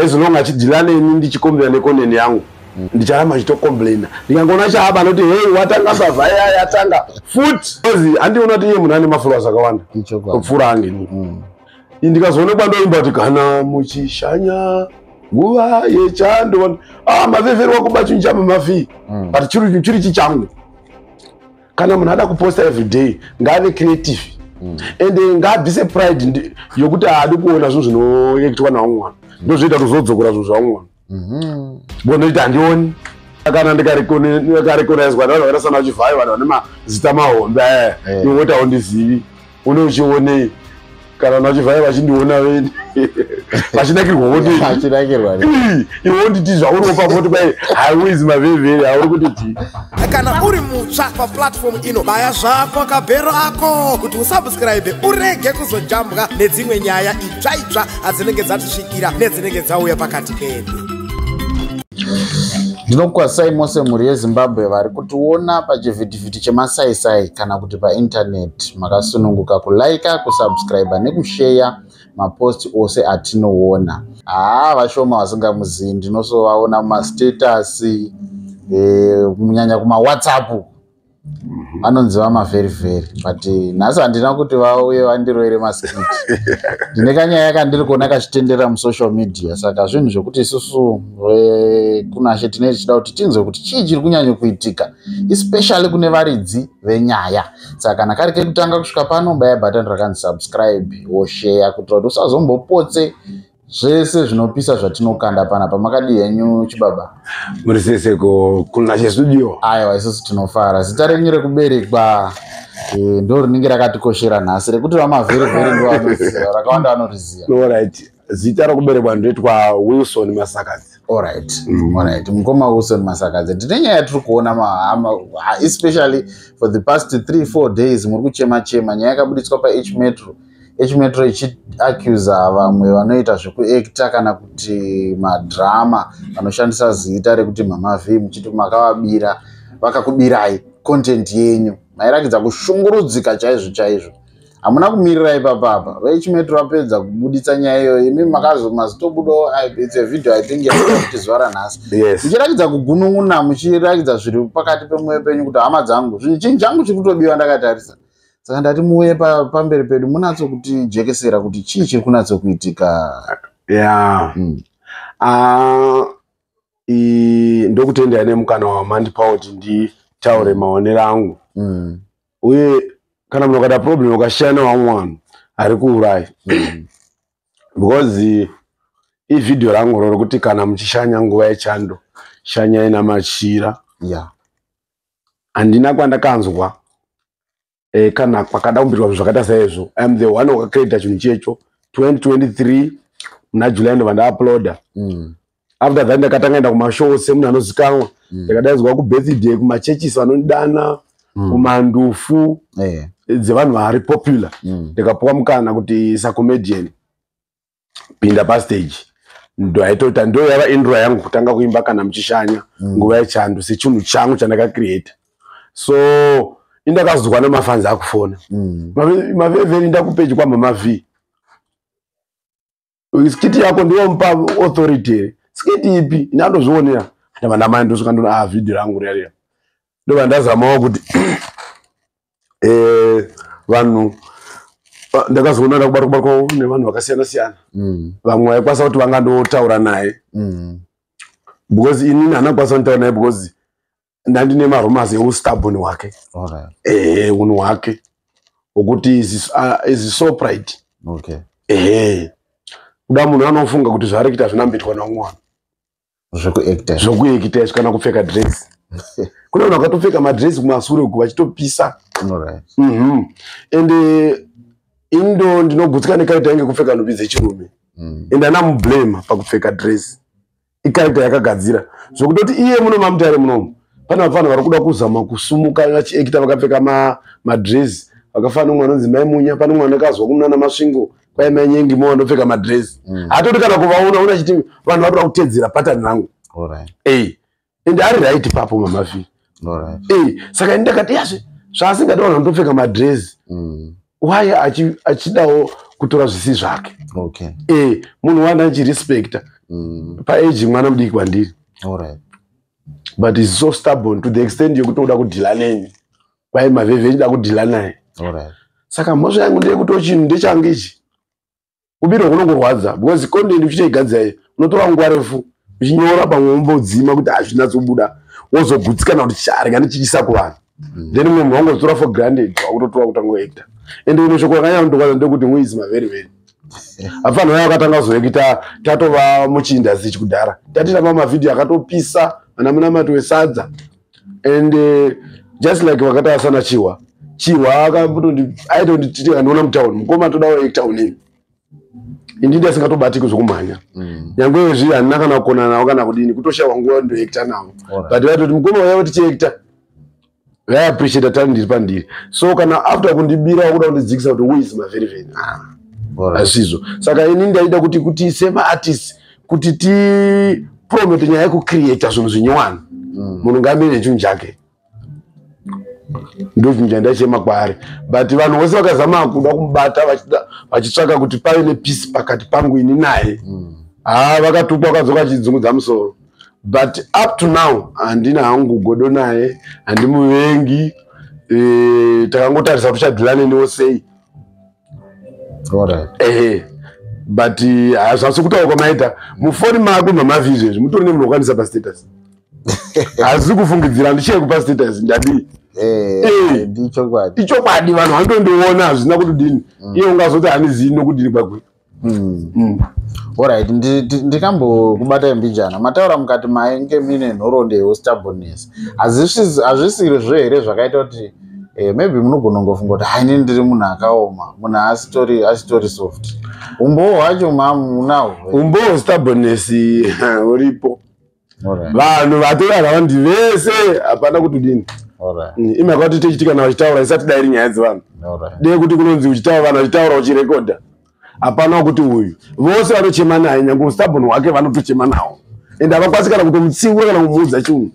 as long achidhila neni ndichikomblena nekoneni yangu mm. ndicharamba chitokomblena ndikangoona chaaba anoti hei watanga mbavha yaya yatanga futi ozi handiona kuti iye munhu ane mafollowers akawanda kupfuura ange ini mm. ndikazoonekwa ndoimba kuti kana muchishanya nguva yechando ah, mavhevherwa kuba chinhu chamamafii mm. but chiri chichangu kana munhu ada kuposta everyday ngaave creative mm. and eh, ngaabvise pride yokuti haadi kuona zvinhu zvinoekitwa nawo mwana mm. ndozvoita kuti zvodzokora zvinhu zvavo mwana mm-hmm. bonoita handioni kana ndikarekonaizwa navanhu vakaita sana chivhayo vanhu vane mazita mahombe aya eh. eh. iwotawo ndizivi une uchionei kana nachivhaya vachindiona veni vachinakirwa votachinakirwa iwe wonditi zvauri wopa voti kwai haiwezi mavhevheri hauri kuti ti kana uri mutsva paplatfomu ino baya zvako kabhero ako kuti usubscribe urege kuzojambwa nedzimwe nyaya itsva itsva adzinenge dzatisvikira nedzinenge dzauya pakati pedu ndinokwasai mose mhuri yezimbabwe vari kutiona pachivhidhi chivhiti chemasaisai kana kuti paintaneti makasununguka kulaika kusubscribe nekusheya maposti ose atinoona haa vashoma vasingamuzivi ndinosovaona mumastatasi eh, kunyanya e, kumawhatsapp mhm. vanonzi vamavheri vheri but eh, nhasi handina kuti vauye vandiroere maskiti ndine kanyaya yakandiri kuona kachitendera musocial media saka zvinhu zvekuti isusu vekunashe tinee tichida kuti tinzwe kuti chii chiri kunyanyo kuitika especially kune varidzi venyaya saka kana kari kekutanga kusvika pano baya button rakanzi subscribe wosheya kuitira kuti usazombopotse zvese zvinopisa zvatinokanda pana pamakadi henyu chibaba muri sese ko kuna chestudio aiwa isusu tinofara zita renyu rekuberekwa eh, ndo rinenge rakatikoshera nhasi rekuti vamavherevhere ndovanoziva rakawanda vanoriziva no right zita rokuberekwa ndoitwa wilson masakadzi alright mm. alright mukoma wilson masakadzi tine nyaya yatiri kuona mahama especially for the past three four days muri kuchema chema nyaya yakabuditswa pah metro h metro ichiacusa vamwe vanoita zvekuekta kana kuti madrama vanoshandisa zita rekuti mama v muchiti makavabira vakakubirai content yenyu mairakidza kushungurudzika chaizvo chaizvo hamuna kumirira ipapa apa vechimetro vapedza kubuditsa nyaya iyoyo imi makazomazitobudawo its a video i think yakuti zuva ranhasi muchirakidza kugunun'una muchirakidza zviri pakati pemwoyo penyu kuti hama dzangu zvinhu chinhu changu chiri kutobiwa ndakatarisa saka ndati muuye pamberi pedu munatso kuti jekesera kuti chii chiri kunatso kuitika ya hmm. ah, ndokutendai nemukana wamandipawo kuti nditaure maonero angu hmm. uye kana munhu akada problem ukashaya nevamwe vanhu ari kuurayi mm. because ivhidhiyo rangu ro rokuti kana muchishanya nguva yechando shanyai namachira handina yeah. kwandakanzwa e, kana kwakada kumbirwa zvinhu zvakaita saizvo iam the one wakacredita chinhu checho 2023 muna july ndobva ndauploada mm. after that ndakatanga enda kumashow semunhu anozikanwa mm. ndakadaidzwa kubirthday kumachurches vanondidana mm. kumandufu eh. dzevanhu vari popular mm. ndikapuwa mukana kuti sacomedian pinda pastage ndoaitoita ndo yava indro yangu kutanga kuimba kana muchishanya mm. nguva yechando sechinhu changu chandakacreata so indakazwa nemafanzi akufona mm. maveveri ndakupeji kwamama vhii skiti yako ndiwo mupa authority here skiti ipi ini andozvionera ndavana mai ndosvika ndona a ah, vhidhio rangu riyaria ndova ndazamawo kuti eh, vanhu ah, ndakazoona ndakubatwa kubatwa nevanhu vakasiyana siyana mm. vamwe vaikwanisa kuti vanga ndotaura naye mm. because inini handina kukwanisa kutaura naye because ndandine marumas eustabon hwake ehe unhu hwake hwokuti izisopride ehe kuda munhu anofunga kuti zvaari kuita zvinambitwa naumwana zvokuekita izvi kana kupfeka dress kune vanhu vakatopfeka madress kumasure uku vachitopisa mhm. and eh, indo ndinogutsika nekaita inge kupfeka nhumbi dzechirume mm. and ana mublame pakupfeka dress ikaita yakagadzira zvokutoti iye muno mamutare munomu pane vapfanha vari kuda kuzama kusumuka vachiekita vakapfeka madresi vakafana nomwe anonzi mai munya pane mwana akazwa kumunana masvingo kwai mai nyengi mo vanopfeka madresi mm. hatoti kana kuvaona una chiti vanhu vari kuda kutedzera patani rangu ende ari right papo mamafi saka ini ndakati yazve zvaasingadi vanhu vanotopfeka madrezi mm. waye achidawo kutora zvisi zvake e munhu wani achirespecta mm. paage mwana mudiki kwandiri but is so stubborn to the extent yekutoda kudhila neni kwaye mavhevhe echida kudhila naye saka mhosva yangu ndeyekuti chinhu ndechange ichi kubirwa kunongorwadza because content uchichaigadzira iyo unotora nguva refu uchinyora pamwe wombodzima kuti hazvinatsobuda wozogutsikana kuti charika ndichiisa kuvanhu mm. then mumwe munhu wangozitora for granted wakutotora kuti angoekta and ino shoko rakanyanya kundokwaza ndekuti muizi maveri veri afanhu vaya vakatanga kuzoekita tatova muchiindasich kudhara tatitamba mavhidhiyo akatopisa vana munamati wesadza and uh, just like vakataura sana chihwa chihwa akaitonditi andiona mutown mukoma todawo etown iyi indi ndi asingatobatiki zvekumhanya mm. nyangwe izvi handina kana kukona nawo kana kudini kutoshawa nguva ndoekta nawo but vaitoti mukoma uya vati chiekta vaiappreciata tani ndiri pandiri so kana after kundibira wakuda kundidzikisa kuti who is maveriveni ah, hazvizvo saka ini ndaida kuti kuti semaartist kuti tipromote nyaya yekucreata zvinhu zvinyowani mm. munhu ngamire chinhu chake ndochinhu chandachema kwaari but vanhu vose vakazama kuda kumubata vachitsvaka kuti pave nepeace pakati pangu ini naye mm. haa ah, vakatukwa vakadzoka achidzungudza musoro but up to now handina hangu godo naye handimuvengi e, takangotarisa kuti uchadhilane newo sei ehe but eh, hazvasi kutaura kwamaita mufoni mako mamavi izvezvi mutori nemunhu wokwanisa pastatus hazisi kufungidzira handichee kupa status ndadii eh, eh, ichokwadi vanhu vanotondiona hazvina kutodini mm. iye ungazoti hanizii nokudini kwakwe Mm. Mm. Alright, ndi- ndi- ndikambokubatai mbijana mataura mukati mainge mine nhoroondo yeustubbornness Hazvisi- hazvisiri zvo here zvakaita kuti eh, maybe munogona kungofunga kuti haini ndiri munhu akaoma munhu asitori asitori soft umbowo hwacho mamu unahwo umboo stubbornness huripo vanhu vatorara vandi vese hapana kuti dini mm, ima kwati techitika na vachitaura isati dairi nyaya dzevanhu dee kuti kunonzi uchitaura vanhu vachitaura uchirekodha hapana wakuti uyu vose vanochema naye nyange ustabon hwake vanotochema nawo and havakwanisi kana kutomutsiura kana kumuudza chunhu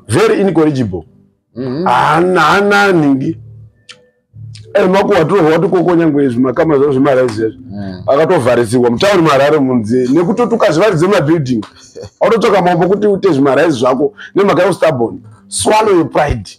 very incorrigible mm-hmm. haana nhingi Eh, mako watorwa watokoko nyangwe izvi makama zvavo zvemaraizi ezvi hmm. akatovharisirwa mutauri marare munzi nekuti kuti ukazvivaridze mabuilding autotsvaka mambo kuti ute zvimaraizi zvako nemhaka yeustabon swallow your pride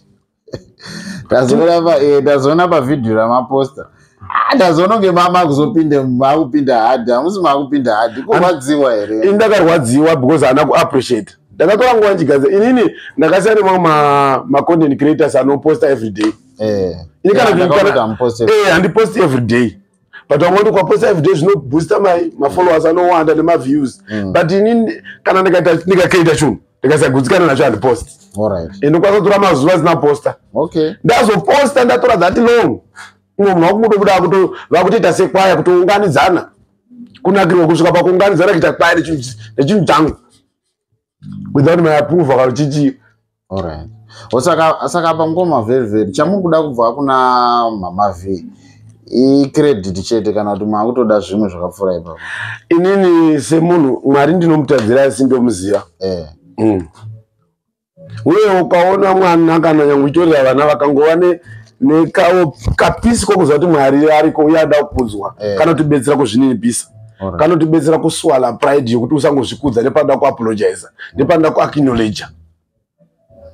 eh, tazoona pavhidhiyo ramaposta ah, ndazoona kunge mama kuzopinde makupinda hadi hamusi makupinda hadi kurwadziwa here ini ndakarwadziwa because haana kuappreciate ndakatora nguva ndichigadza inini ndakasiyana nemamwe macontent creators anoposta every day eh ini kana yeah, kana kana post eh and post every day but I'm going to post every day zvino booster my my followers I know and my views mm. but ini kana nika nika kaita chungu ndikasagutsikana nacho and post all right and ndokwanisa kutora mazuva zina poster okay ndazo poster ndatora that long umwe munhu wakungoto kuda kuto vakutoita sekwaya kutounganidzana kunakirwa kusvika pakuunganidzana kuita kwaya nechinhu changu without my approval kana chichi alright osaka saka pangoma very very chamuri kuda kubva kuna mama v icredit chete kana kuti maakutoda zvimwe zvakapfuura ipapo inini semunhu mwari ndinomutadzira asi ndomuziva eh. mm. uye ukaona mwana kana nyange uchitorera vana vakangova ne nekawo kapisi kokuziva kuti mwari ariko uye ada kukudzwa eh. kana kutibetsera kuzvininipisa Alright. kanotibetsera kuswala pride yekuti usangozvikudza nepanoda kuapologiza nepanoda kuacknowledger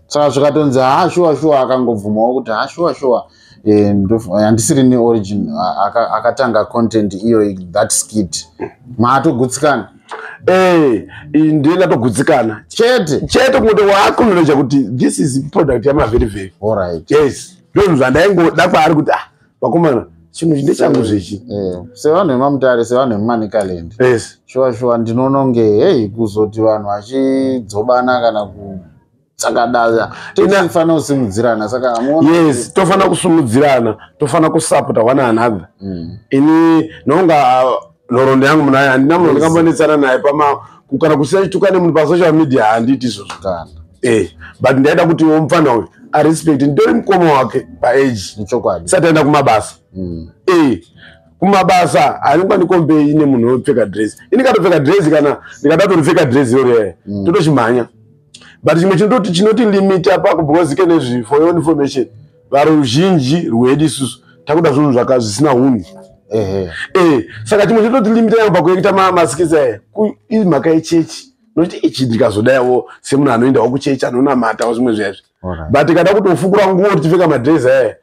saka zvikatonzi ha shuwa shuwa akangobvumawo kuti ha shuwa shuwa eh, ndof- handisiri neorigin a- aka- akatanga content iyoyi that skit maatogutsikana Eh, iyi ndiye ndatogutsikana chete chete kungoto waacknowledger kuti this is product yamavherivheri alright yes ndozvinhu zvandaingoda kwaari kuti ah vakomana chinhu chinde changu zvechi eh, sevanhu vemamutare sevanhu vemumanicaland yes. shuwa shuwa ndinoona kunge hei kuzoti vanhu vachidzobana kana ku tsakadaya tinofanira kusimudzirana saka yes tofanira kusimudzirana tofanira kusapota one another mm. ini nonga nhoroondo yangu munhu ayo handina munhu andikambanetsana naye pama kana kusina chituka nemunhu pasocial media handiti izvozvo kana eh but ndaida kuti wo mfana uyu a respect nditori mukoma wake pa age ichokwadi sati aenda kumabasa mm. eh kumabasa anenge andikombe ine munhu wopfeka dress ini katopfeka dress kana ndikada toripfeka dress iro riyaya mm. totochimhanya but chimwe chinototi chinoti limit apako because ke nezvifo yo information varuzhinji rwedu isusu takuda zvinhu zvaka zvisina hunhu ehe eh saka chimwe chetoti limit yangu pakuekita ma masikisi aya iri mhaka yechechi nokuti ichi ndikazodaiwo semunhu anoendawo kuchechi anonamatawo zvimwe zvezvi but kada kuti ufukura nguwo tichipfeka madress aya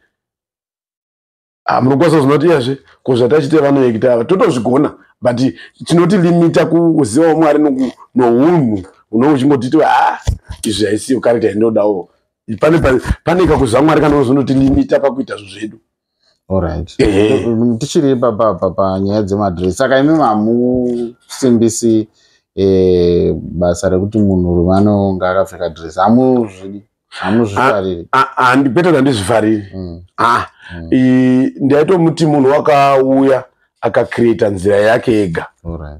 ah, munokwanisa zvinoti iyazve ko zvatachite vanoekita ava totozvigona but tinoti limita kuziva mwari nounhu unonge uchingotiti ha ah, izvi haisiyo karita yandinodawo pane pane kakuzva mwari kanozonoti limita pakuita zvo zvedu Alright. Tichiri papa papa nyaya dzemadress. Saka imi mamusimbisi eh basa rekuti munhu rume anonga akapfeka dress. Amuzvi hamuzvifariri ah, ah, ah, kwete kuti handizvifariri mm. mm. ndaitomuti munhu wakauya akacreata nzira yake yega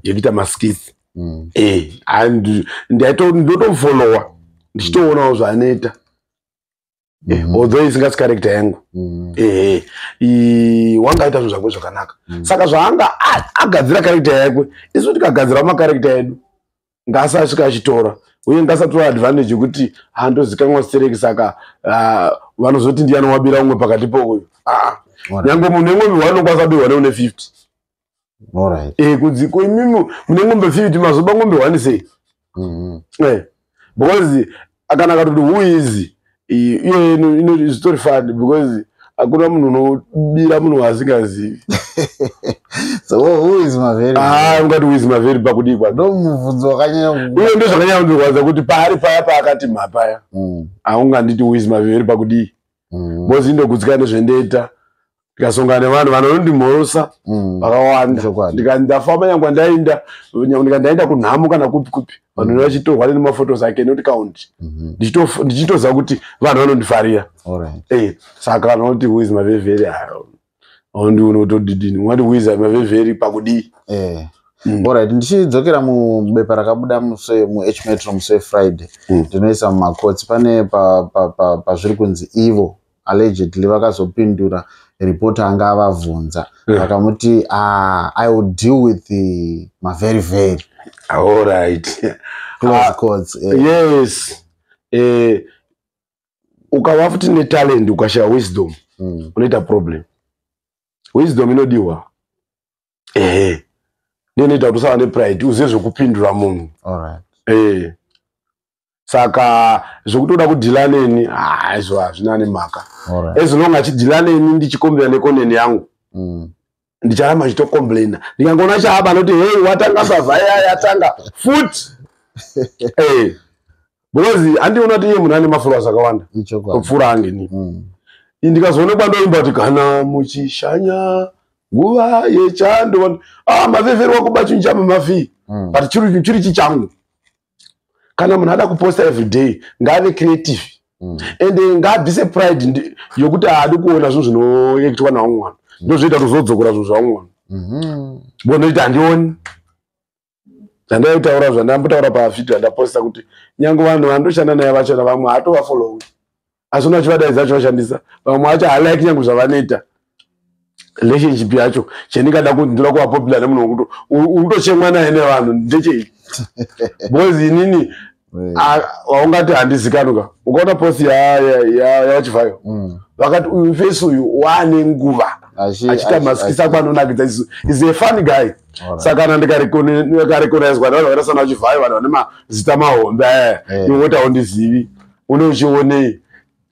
yekuita maskisi mm. eh, ndotofollowa ndichitoonawo zvaanoita eh, mm-hmm. although isingasi karekta yangu mm-hmm. ehe eh, wanga aita zvinhu zvakwe zvakanaka mm. saka zvaanga agadzira karekta yakwe isu tikagadzirawo makarekta edu ngaasasvika achitora uye ngasatora advantage yekuti handozikanwa stereki saka ah, vanozoti ndiyani wabira umwe pakati pouyu ah, nyange mune ngombe wanokwanisa kubirwa neune 50 eh, kunzi koimimi mune ngombe 50 mazoba ngombe one sei mm-hmm. eh, because kana akatoti who is iyoyo inotori fani because hakuna munhu unobira munhu waasingazivi ah, ungati who is maveri pakudii kwaiuye ndo zvakanyanya kundirwadza kuti paari paya paakati mhapaya mm. haunganditi who is maveri pakudii mm. because indogutsika nezvendeita ndikasongana nevanhu vanondimhorosa mm. vakawanda ndikandafamba nyangwa ndainda ndikandaenda kunhamo kana kupi kupi vanhu mm. vachitorwa nemafotos ake not count mhm. ndichitoziva kuti vanhu vanondifarira eh, saka vanhu vanoti who is maveveri ayo aundi unotodidini ungati who is maveveri pakudii eh. Mm. orit ndichidzokera mubepa rakabuda muh metro muse friday mm. ndinoisa mumakotsi pane pazviri kunzi ivo allegedly vakazopindura report anga avavhunza hmm. vakamuti mm. ah, i will deal with the mavery very allright close uh, courts uh, yes uh, eh, ukava futi netalent ukashaya wisdom mm. unoita problem wisdom inodiwa ehe eh, ndiyo inoita kuti usava nepride uzive zvekupindura munhu right. eh. saka zvekutoda kudhila neni haizvo ah, hazvina nemhaka as long achidhila neni ndichikombera nekoneni yangu mm. ndicharamba ndichitocomplaina ndikangoona chaaba anoti hei watanga mbavha iya yatanga futi eh, because andiona kuti iye munhu ane mafuras akawanda kupfuura angeni mm. ndikazoonekwa ndoimba kuti kana muchishanya nguva yechando ah, mavhevherwa kuba chinhu chamamafii mm. but chiri chichangu kana munhu ada kuposta everyday ngaave creative mm. and eh, ngaabvise pride yokuti haadi kuona zvinhu zvinoekitwa nawo mwana mm. ndozvoita kuti zvodzokora zvinhu zvavo mwana mm-hmm. bonoita handioni zvandaitaura zvandambotaura pavhidhio andaposta kuti nyange vanhu vandoshanda naye vachona vamwe hatovafollowi asi unoona chivadaidza acho vashandisa vamwe vacho halike nyange zvavanoita relationship yacho chendingada kuti ndoda kuva popular nemunhu wekuti utochemwa naye nevanhu ndechei because inini waungati handizikanuka ukaona post yavachivayo mm. vakati uyu face uyu waane nguva achiita masikisa kwanonakidza isu is a fun guy saka kana ndikarekonaizwa nevanhu vakaita sana vachivayo vanhu vane mazita mahombe aya iwe woti haundizivi une uchionei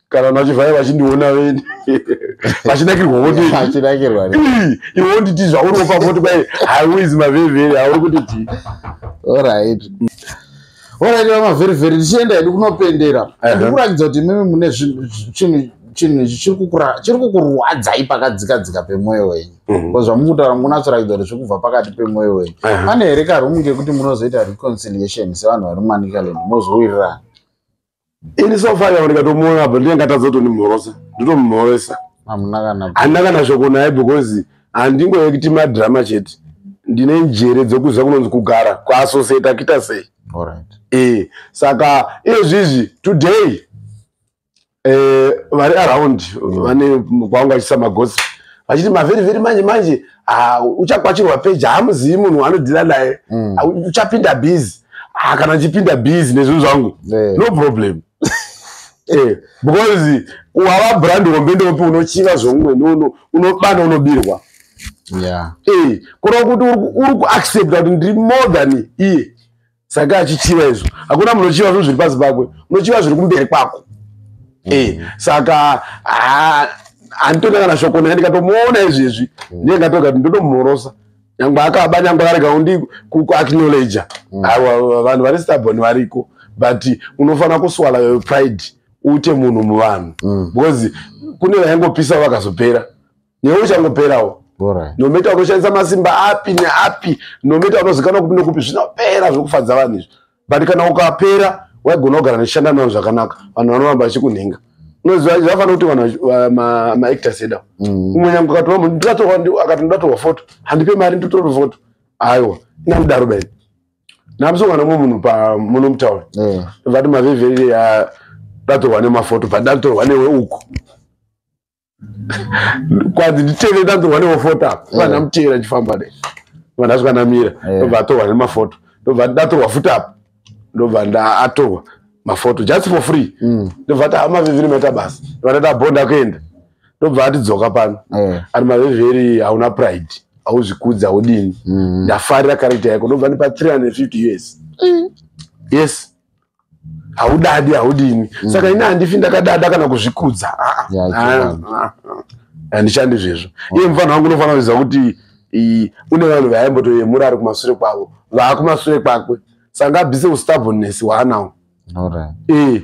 kana nachivhaya vachindiona veni vachinakirwa votachinakirwa iwe wonditi zvauri wopa voti kwai haiwizi mavhevheri hauri kuti ti orit orit vamavherivheri tichienda hedu kunopendera ndikuratidza kuti mimi mune chinhu chinhu ichi chiri kukurwadzai pakadzika dzika pemwoyo wenyu mhm. ko zvamukutaura mukunatsorakidza kuti zviri kubva pakati pemwoyo wenyu pane here karumu kekuti munozoita reconciliation sevanhu vari mumanikaland mozowirirana ini so far kana ndikatomuona apa ndinenge ngatadza kutonimhorosa nditomhoresa hamuna kana handina kana shoko naye because handingoye kuti madrama chete ndine njere dzekuziva kunonzi kugara kuassociate akita sei alright eh saka izvi izvi today eh, vari around mm. vane kwanga vachisa magosi vachiti mavhiri vhiri manje manje ah, uchakwachirwa peji haamuzivi munhu waanodhila naye mm. ah, uchapinda bizi ah, kana ndichipinda bizi nezvinhu zvangu eh. no problem eh, because wava brand hombe ndopi unochiva zvomumwe unobana unobirwa kureva kuti uri kuaccepta kuti ndiri more than iye saka achichiva izvo hakuna munhu ochiva zvinhu zviri pasi pakwe unochiva zviri kumberi kwako mm. e saka handitoda kana shoko naye ndikatomuona izvezvi mm. ndiye ngatoga kuti ndotomhorosa nyangwe akaba nyangwe arega undi kuacknowledger mm. aiwa vanhu vari stabon variko but unofanira kuswala yo pride ute munhu muvanhu mm. because kune vaingopisa vakazopera newe uchangoperawo nometa unoshandisa masimba api neapi nometa unozikanwa kupi nokupi zvinopera zvokufadza vanhu izvi but kana ukapera waigona kugara nechishanda navo zvakanaka vanhu vanoramba vachikunhinga unoziva zvafanira kuti vanhu maactors eda mm. umwe nyange ukati vamu ndikatorwa akati ndatorwa foto handipe mari nditotorwa foto aiwa inandidaro baini namusongana mwe munhu pamuno mutaura vati mavhevheri ndatorwa nemafoto but ndatorwa newe uku kwanzi nditeve ndanzirwa neofota apa vana eh. mutera chifamba ne vana zvikanamira eh. ndobva atorwa nemafoto ndobva ndatorwa futi apa ndobva ndaatorwa mafoto just for free mm. ndobva ati hama viviri maita basa vanata bonda kuenda ndobva atidzoka pano eh. ari maveveri hauna pride hauzvikudzi haudini mm. ndafarira character yako ndobva ndipa 350 us mm. yes haudadi haudini mm. saka ini handifi ndakadada kana kuzvikudza handishandi zvezvo iye mufana wangu unofanira kuziva kuti une vanhu vaimbotoyemura ari kumasure kwavo vaakumasure kwakwe sanga abvise ustaboness waanawo e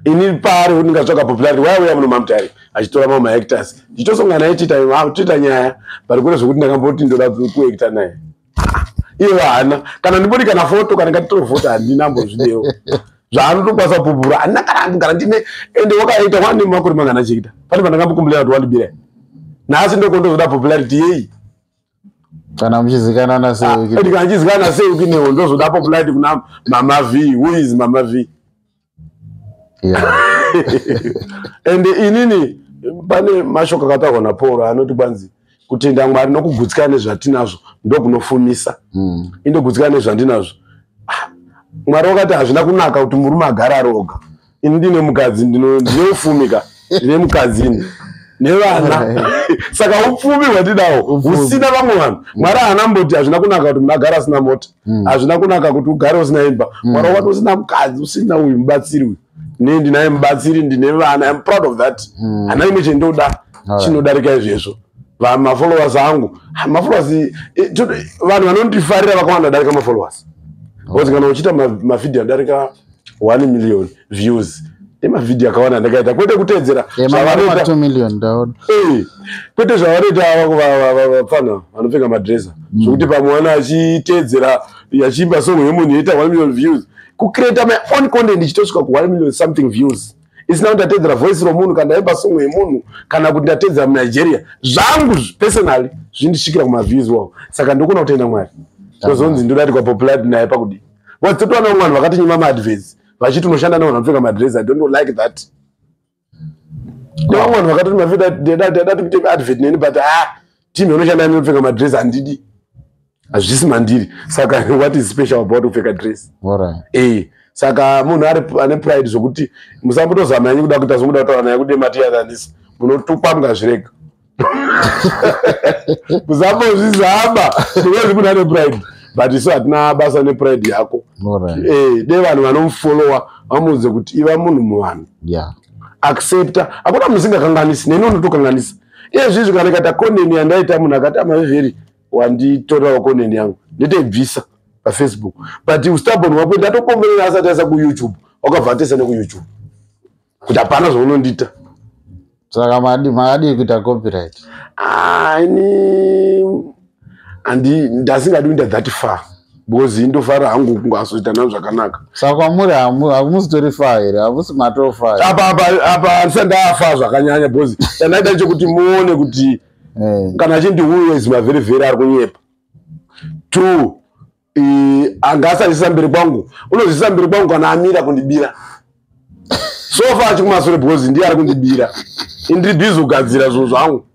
ini paari kuti ndingatsvaga popularity waya uya muno mamutari achitora mamwe maactors ndichitosongana naye tiita nyaya but kune zvekuti ndakamboti ndoda kuacta naye iye vahana kana ndibodi kana foto kana ngatitore foto handina mbozvidewo zvaanotokwanisa kupupura handina kana andogara ndine ende wakaita wane makore mangana chiita pane pandakambokumbulira kuti wandibira nhasi ndokondozoda popularity yeyi kana muchizikanana seukana ah, chizikana seukinewo ndozoda populati kuna mama v who is mama v and inini pane mashoko akataurwa napauro anoti kwanzi kutenda mwari nokugutsika nezvatinazvo ndokunofumisa hmm. indogutsika nezvandinazvo ah, mwari wakati hazvina kunaka kuti murume agara aroga ini ndine mukadzi ndine ufumi ka ndine mukadzi ini nevana saka upfumi hwatidawo husina vamwe vanhu mm. mwari haana mboti hazvina kunaka kuti munhu agara asina mota mm. hazvina kunaka kuti ugare usina imba mm. mwari wati usina mukadzi usina uyu mubatsiri uyu ne ndinaye mubatsiri ndine vana im proud of that hana imwe chendoda chinodarika izvezvo mafollowers angu mafollowers eh, vanhu vanondifarira vakawanda darika mafollowers bcause kana uchiita mavhideo adarika 1 million views nemavhidhiyo akawanda ndakaita kwete kuteedzera kwete zvavanoita vapfana vanopfeka madresa mm. zvokuti pamwe wana achiteedzera achiimba song yemunhu yoita 1 million views kucreata my own content ichitosvika ku 1 million something views isina kuti ndateedzera voice romunhu kana ndaimba song yemunhu kana kuti ndateedzera munigeria zvangu personally zvindisvikira kumaviews wawo saka ndokona kutenda mwari tozonzi ndodatikwa popularity naye pakudii Because totona vamwe vanhu vakatinyima maadvesi vachiti unoshanda nevanhu vanopfeka madresi. I don't like that. Nevamwe vanhu vakatoti mavida ndada tikuite advert neni but ah team inoshanda nenopfeka madresi handidi. Hazvisi mandiri. Saka what is special about kupfeka dress? Alright. Eh. Saka munhu ari ane pride zvokuti musambotozama yenyu kuda kuita zvokuda kutaura naye kuti matiyananisa. Munotukwa mukazvirega. kusambozvizama because munhu ane pride but isu hatina basa nepride yako eh, de vanhu vanomufollowa vamuudze kuti iva munhu muvanhu accepta hakuna munhu singakanganisi neni unotokanganisa iyezvi izvi kana ikata koneni yandaita munhu akati amavheri wanditorerawo koneni yangu nditoibvisa pafacebook but ustabon wako ndatokomberera asati aisa kuyoutube wakabva atesa nekuyoutube kuti hapana zvaunondiita saka makadii kuita copyright ani andi ndasingadi kuita that far because indofara hangu kungazoita navo zvakanaka saka kwamuri hamusitori fa here hamusi matofa apa handisa ndafa zvakanyanya because chandaita chekuti muone kuti eh. kana chindi uyo is mavherevhere ari kunyepa two anga asazvisa mberi kwangu unozvisa mberi kwangu kana amira kundibira sofa achikumasure because ndiye ari kundibira indiri bizi kugadzira zvinhu zvangu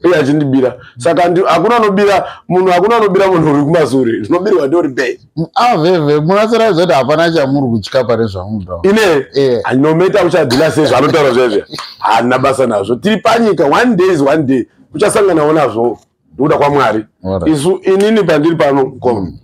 iye achindibira saka hakuna anobira munhu hakuna anobira munhu uri kumasure zvinobirwa ndiori be aveve ah, munasira zvati hapana chamuri kutya pane zvamuda ine eh. anomaita kuchadhila sei zvaanotaura zvezve haana basa nazvo tiri panyika one day is one day kuchasanganawo nazvoo ndokuda kwamwari isu inini pandiri pano mkoma mm.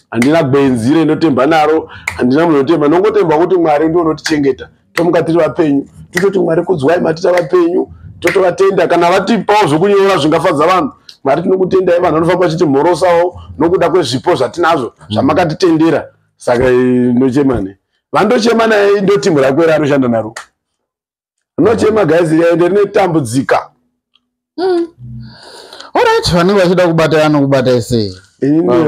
handina gwenzi reindotemba naro handina munhu anotemba nongotemba kuti mwari ndiwo unotichengeta tomuka tiri vapenyu tototi mwari kudzwai matita vapenyu totovatenda kana vatipawo zvokunyora zvingafadza vanhu mwari tinokutendai vanhu vanofamba vachiti mhorosawo nokuda kwezvipo zvatinazvo mm. zvamakatitendera saka ndochemane vandochema naye ndotimhu rako ere anoshanda naro rinochema guys riende rinotambudzika mm. orit vanenge vachida kubata vanokubata isei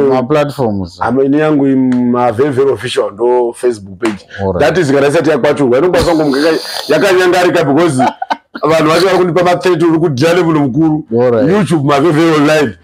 maplatforms amene yangu mavevero official ndo facebook page that is kana isati yakwaturwa inokwanisa kungomuka yakanyangarika because vanhu vacho vari kundipa ma30 uri kudhira lemuno mukuru youtube mavevero live